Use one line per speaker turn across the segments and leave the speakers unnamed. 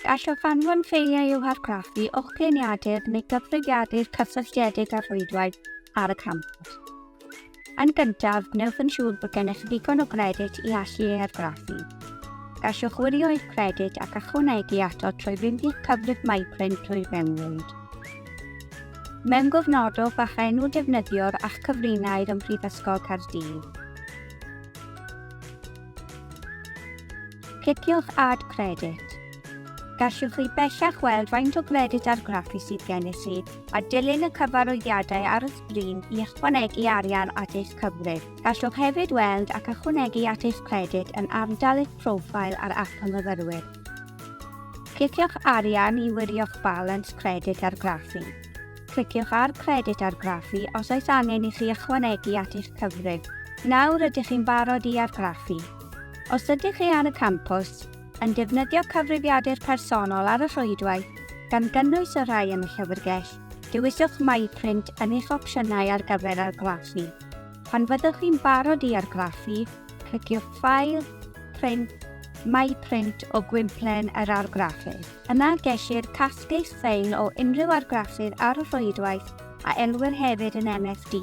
Gallwch anfon ffeiliau i'w hargraffu o'ch gliniadur neu gyfrifiadur cysylltiedig â'r rhwydwaith ar y campws. Yn gyntaf, gwnewch yn siŵr bod gennych ddigon o gredyd i allu ei argraffu. Gallwch wirio eich credyd ac ychwanegu ato trwy fynd i'ch cyfrif MyPrint drwy'r mewnwyd. Mewn gofnodwch a'ch enw defnyddiwr a'ch cyfrinair ym Mhrifysgol Caerdydd. Cliciwch Add Credit. Gallwch chi bellach weld faint o gredyd argraffu sydd gennych chi a dilyn y cyfarwyddiadau ar y sgrin i ychwanegu arian at eich cyfrif. Gallwch hefyd weld ac ychwanegu at eich credyd yn ardal eich profile ar App y Myfyrwyr. Cliciwch Arian i wirio'ch balans credyd argraffu. Cliciwch ar Credyd Argraffu os oes angen i chi ychwanegu at eich cyfrif. Nawr ydych chi'n barod i argraffu. Os ydych chi ar y campws, yn defnyddio cyfrifiadur personol ar y rhwydwaith, gan gynnwys y rhai yn y llyfrgell, dewiswch MyPrint yn eich opsiynau ar gyfer argraffu. Pan fyddwch chi'n barod i argraffu, cliciwch File, Print, MyPrint o gwymplen yr argraffydd. Yna gellir casglu sain o unrhyw argraffydd ar y rhwydwaith a elwir hefyd yn MFD.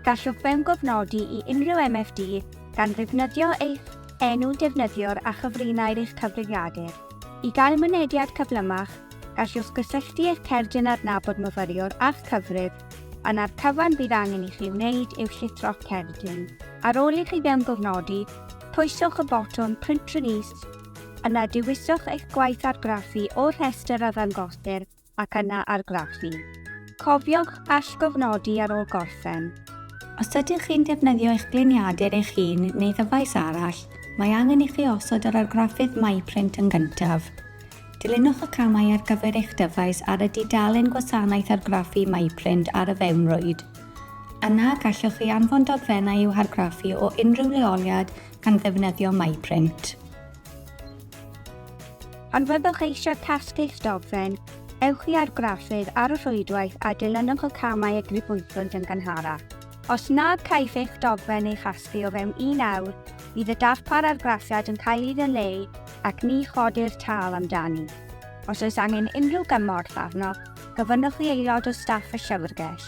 Gallwch fewngofnodi i unrhyw MFD gan ddefnyddio eich enw defnyddiwr a chyfrinair eich cyfrifiadur. I gael mynediad cyflymach, gallwch gysylltu eich cerdyn adnabod myfyriwr â'ch cyfrif, a 'na'r cyfan fydd angen i chi wneud yw llithro'ch cerdyn. Ar ôl i chi fewngofnodi, pwyswch y botwm Print Release Yna dewiswch eich gwaith argraffu o'r rhestr a ddangosir ac yna argraffu. Cofiwch allgofnodi ar ôl gorffen. Os ydych chi'n defnyddio eich gliniadur eich hun neu ddyfais arall, mae angen i chi osod yr argraffydd MyPrint yn gyntaf. Dilynwch y camau ar gyfer eich dyfais ar y dudalen Gwasanaeth Argraffu MyPrint ar y fewnrwyd. Yna, gallwch chi anfon dogfennau i'w hargraffu o unrhyw leoliad gan ddefnyddio MyPrint. Pan fyddwch eisiau casglu'ch dogfen, ewch i argraffydd ar y rhwydwaith a dilynwch y camau y grybwyllwyd yn gynharach. Os nad caiff eich dogfen ei chasglu o fewn un awr, bydd y darpar argraffiad yn cael ei ddileu ac ni chodir tâl amdani. Os oes angen unrhyw gymorth arnoch, gofynnwch i aelod o staff y Llyfrgell.